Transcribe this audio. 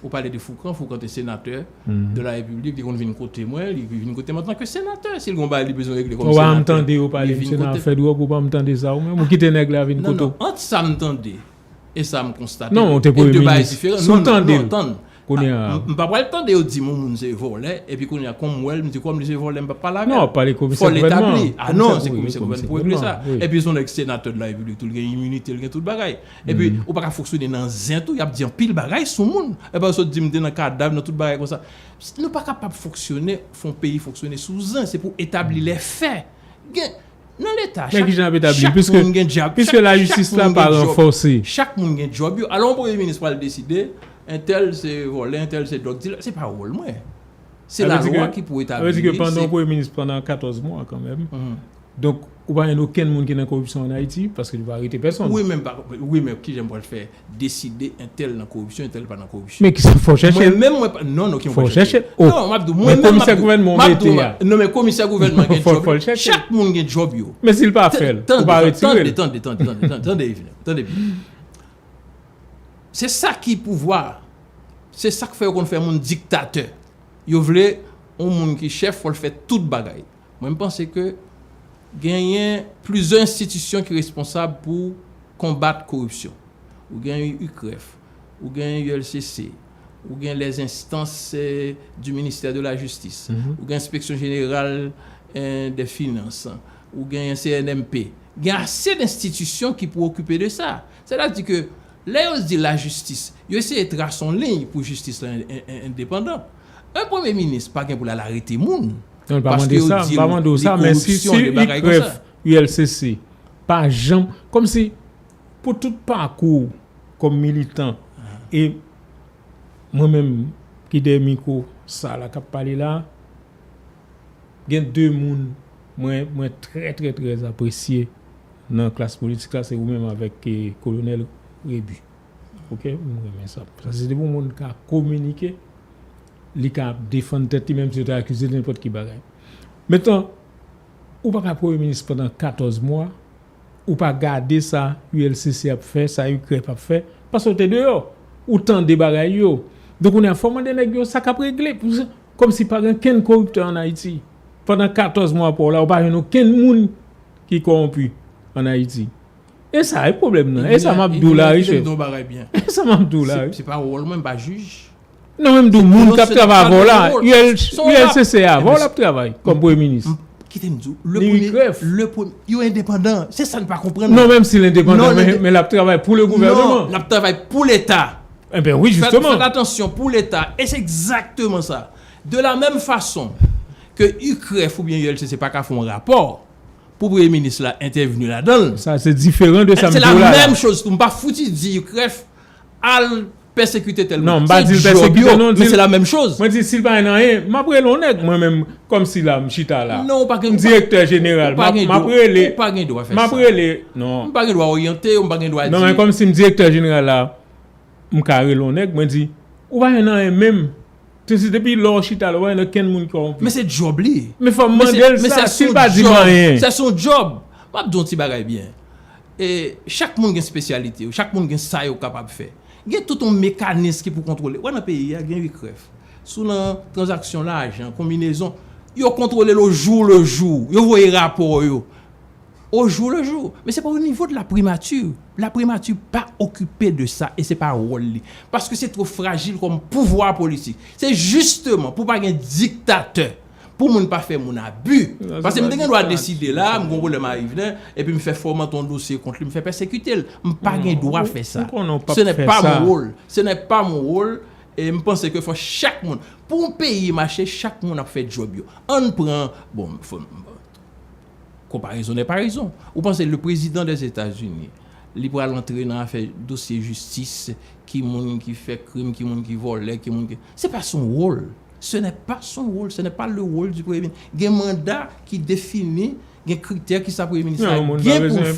Ou pale de Foukan, Foukan te senatè de la Repiblik, li konn vin kote mwen, li vin kote mwen antanke senatè, si l gon bagay li bezwen regle kòm senatè. Ou pa janm tande yo pale misye nan afè dwòg, ou pa janm tande sa ou menm, ou kite nèg la vin kote w. Non, non, ant sa m tande e sa m konstate, e 2 bagay diferan. Non, non, non, non, tann, m pa pral tande yo di m yon moun se vòlè, epi kounye a kòm m wè l, m di kòm li se vòlè m pap pale avè l. Non, w ap pale komisè gouvènman an. Fò l etabli. A non, se komisè gouvènman pou regle sa. Epi son nèg senatè de la Repiblik tou, li gen iminite, li gen tout bagay. Epi ou paka foksyone nan zen tou, yap di anpil bagay sou moun. Epi ou sot di m te nan kadav, nan tout bagay konsa. Nou pa kapab foksyone, fon peyi foksyone sou zen. Se pou etabli lè fè. Gen, nan leta, chak moun gen dyab, chak moun gen dyòb, chak moun gen dyòb yo. Alon premye minis pral deside, entèl se vòlè, entèl se dòg dilè, se pa wòl mwen. Se la lwa ki pou etabli. Sa vle di ke pandan premye minis pandan 14 mwa kanmenm. Donk ou pa jwenn okenn moun ki nan koripsyon an Ayiti, paske yo pa arete pèsonn. Wi men wi men kijan m pral fè deside entèl nan koripsyon entèl pa nan koripsyon. Men kisa fò w chèche l. Mwen menm mwen pa non non ki fò w chèche l. Fò w chèche l. Non m ap di w mwen menm m ap di w. Men komisè gouvènman w mete a. Non men komisè gouvènman an gen djòb li. Fò l chèche l. Chak moun gen djòb yo. Men si l pa fè l, ou pa retire l. Tande tande tande tande tande Eveline tande byen. Se sa ki pouvwa a. Se sa k fè yo konn fè moun diktatè. Yo vle yon moun ki chèf fò l fè tout bagay. Mwen m panse ke genyen plizyè enstitisyon ki responsab pou konbat koripsyon. Ou gen UCREF, ou gen ULCC, ou gen les instances du ministère de la justice, ou gen inspection générale des finances, ou genyen CNMP. Gen ase d'institisyon ki pou okipe de sa. Sètadi ke lè yo di la justice, yo eseye trase yon liy pou justice la endepandan. Yon premye minis pa gen pou l al arete moun. Non li pa mande sa, li pa mande ou sa, men si ICREF, ULCC, pa janm, kom si, pou tout pakou, kom militan, e, mwen menm, ki dèyè miko, sa la kap pale la, gen de moun, mwen, mwen trè trè trè apresye, nan klas politik la, se ou menm avèk kolonel Rebu. Ok m renmen sa. Sa se depi moun ka kominike li ka ap defann tèt li menm si yo ta akize l nenpòt ki bagay. Metan ou pa ka premye minis pandan 14 mwa ou pa gade sa ULCC ap fè sa UCREF ap fè paske ou te deyò ou tande bagay yo donk kounye a fò w mande nèg yo sa k ap regle kòmsi pa gen kenn koriptè an Ayiti pandan 14 mwa pa w la ou pa jwenn okenn moun ki kowonpi an Ayiti. E sa e pwoblèm nan. E sa m ap di w la wi chèf. E sa m ap di w la wi. Se pa wòl mwen, m pa jij. Non men m di w moun k ap travay avè w la, ULCC a avè w l ap travay kòm premye minis. Kite m di w. Li wi grèf. Yo endepandan. Se sa n pa konprann. Non men m si l endepandan men l ap travay pou le gouvèneman. Non, l ap travay pou leta. Enben wi jisteman. Fèt atansyon pou leta. E se egzakteman sa. De la menm fason ke UCREF oubyen ULCC pa ka fè yon rapò Pou premye minis la entèvni ladan l. Sa se diferan de sa m di w la la. Se la menm choz tou. M pa fouti di UCREF al pèsekite tèl moun. Se djòb yo, men se la menm choz. Mwen di si l pa gen anyen, m ap rele yon nèg mwen menm kòm si la m chita la. Non ou pa gen dwa. M direktè jeneral. M ap rele. Ou pa gen dwa fè sa. M ap rele. Non. M pa gen dwa oryante ou, m pa gen dwa di. Non men kòm si m direktè jeneral la. M ka rele yon nèg mwen di ou pa jwenn anyen menm. Se se depi lè w chita la ou pa jwenn okenn moun ki kòwonpi. Men fò m mande l sa si l pa di m anyen. Men se son djòb. M ap di w yon ti bagay byen. Chak moun gen spesyalite yo. Chak moun gen sa yo kapab fè. Gen tout yon mekanis ki pou kontwole. Ou wè nan peyi a gen UCREF. Si w nan tranzaksyon lajan, konbinezon, yo kontwole l ojou lejou. Yo voye rapò yo. au jour le jour men se pa au niveau de la primature, la primature pa okipe de sa e se pa wòl li paske se two frajil kòm pouvwa politik se jisteman pou pa gen diktatè pou moun pa fè moun abi paske m te gen dwa deside la m gon pwoblèm a Yvner epi m fè fòmante yon dosye kont li m fè pèsekite l m pa gen dwa fè sa se nè pa mon wòl se nè pa mon wòl e m panse ke fò chak moun pou yon peyi mache chak moun ap fè djòb yo ann pran bon m fò m Konparezon nè pa rezon. Ou panse le prezidan dè Etazini li pral antre nan afè dosye jistis, ki moun ki fè krim, ki moun ki vòlè, ki moun ki. Se pa son wòl. Se nè pa son wòl, se nè pa le wòl di premye minis. Gen manda ki defini, gen kritè ki sa premye minis la gen pou l fè.